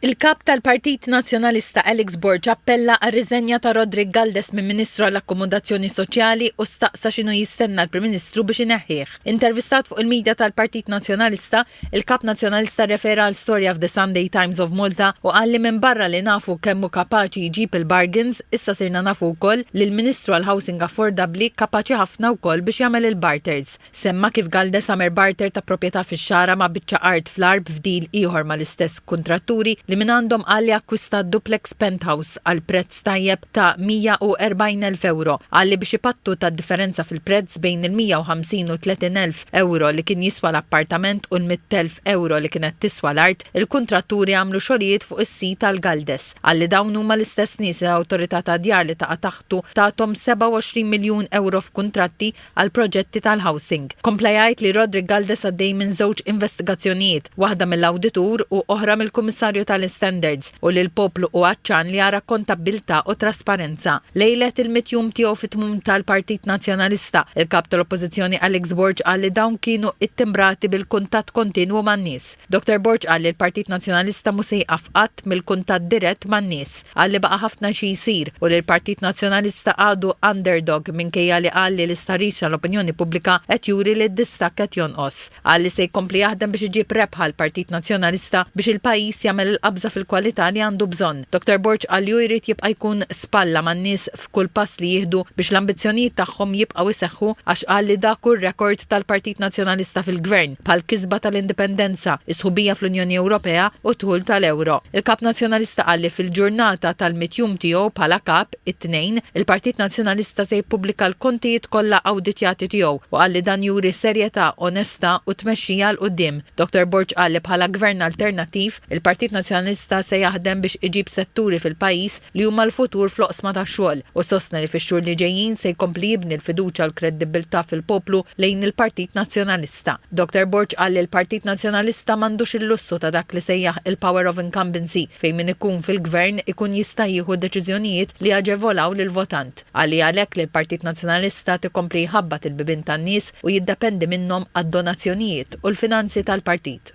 Il-Kap tal-Partit Nazzjonalista Alex Borg appella għar-riżenja ta' Roderick Galdes minn Ministru għall-Akkomodazzjoni Soċjali u staqsa x'inhu jistenna l-Prim Ministru biex ineħħih. Intervistat fuq il-midja tal-Partit Nazzjonalista, il-Kap Nazzjonalista rrefera għal storja f'The Sunday Times of Malta u qal li minbarra li nafu kemm hu kapaċi jġib il-bargains, issa sirna nafu wkoll li l-Ministru għall-Housing Affordabbli kapaċi ħafna wkoll biex jagħmel il-barters. Semma kif Galde Summer barter ta' proprjetà fix-Xagħra ma' biċċa art fl-Għarb f'deal ieħor mal-istess kuntratturi li mingħandhom qal li akkwistat duplex penthouse għal prezz tajjeb ta' 140,000 ewro. Qal li biex ipattu tad-differenza fil-prezz bejn il-150 u 30,000 ewro li kien jiswa l-appartament u l-100,000 ewro li kienet tiswa l-art, il-kuntratturi għamlu xogħlijiet fuq is-sit tal-Galdes. Qal li dawn huma l-istess nies li l-Awtorità tad-Djar li taqa' taħtu tathom 27 miljun ewro f'kuntratti, għall-proġetti tal-housing. Kompla jgħid li Roderick Galdes għaddej minn żewġ investigazzjonijiet, waħda mill-awditur u oħra mill-Kummissarju tal-Istandards, u li l-poplu hu għatxan li jara kontabbiltà u trasparenza. Lejlet il-mitt jum tiegħu fit-tmun tal-Partit Nazzjonalista, il-Kap tal-Oppożizzjoni Alex Borg qal li dawn kienu ittimbrati bil-kuntatt kontinwu man-nies. Doctor Borg qal li l-Partit Nazzjonalista mhu se jieqaf qatt mill-kuntatt dirett man-nies. Qal li baqa' ħafna xi jsir u li l-Partit Nazzjonalista għadu underdog minkejja li qal li l-istħarriġ tal-opinjoni pubblika qed juri li d-distakk qed jonqos. Qal li se jkompli jaħdem biex iġib rebħa l-Partit Nazzjonalista biex il-pajjiż jagħmel il-qabża fil-kwalità li għandu bżonn. Doctor Borg qal li hu jrid jibqa' jkun spalla man-nies b'kull pass li jieħdu biex l-ambizzjonijiet tagħhom jibqgħu jseħħu għax qal li dak hu r-rekord tal-Partit Nazzjonalista fil-Gvern, bħall-kisba tal-Indipendenza, is-sħubija fl-Unjoni Ewropea u d-dħul tal-Ewro. Il-Kap Nazzjonalista qal li fil-ġurnata tal-mitt jum tiegħu bħala Kap, it-Tnejn, il-Partit Nazzjonalista se jippubblika l-kontijiet kollha awditjati tiegħu u qal li dan juri serjetà, onestà u tmexxija 'l quddiem. Dottor Borg qal li bħala Gvern alternattiv, Il-Partit Nazzjonalista se jaħdem biex iġib setturi fil-pajjiż li huma l-futur fl-oqsma tax-xogħol u sostna li fix-xhur li ġejjin se jkompli jibni l-fiduċja u l-kreddibbiltà fil-poplu lejn il-Partit Nazzjonalista. Dottor Borg qal li l-Partit Nazzjonalista m'għandux il-lussu ta' dak li sejjaħ il-power of incumbency fejn min ikun fil-Gvern ikun jista' jieħu deċiżjonijiet li jaġevolaw lill-votant. Qal hi għalhekk li l-Partit Nazzjonalista tikompli jħabbat il-bibien tan-nies u jiddependi minnhom għad-donazzjonijiet tal-Partit u l-finanzi tal-Partit.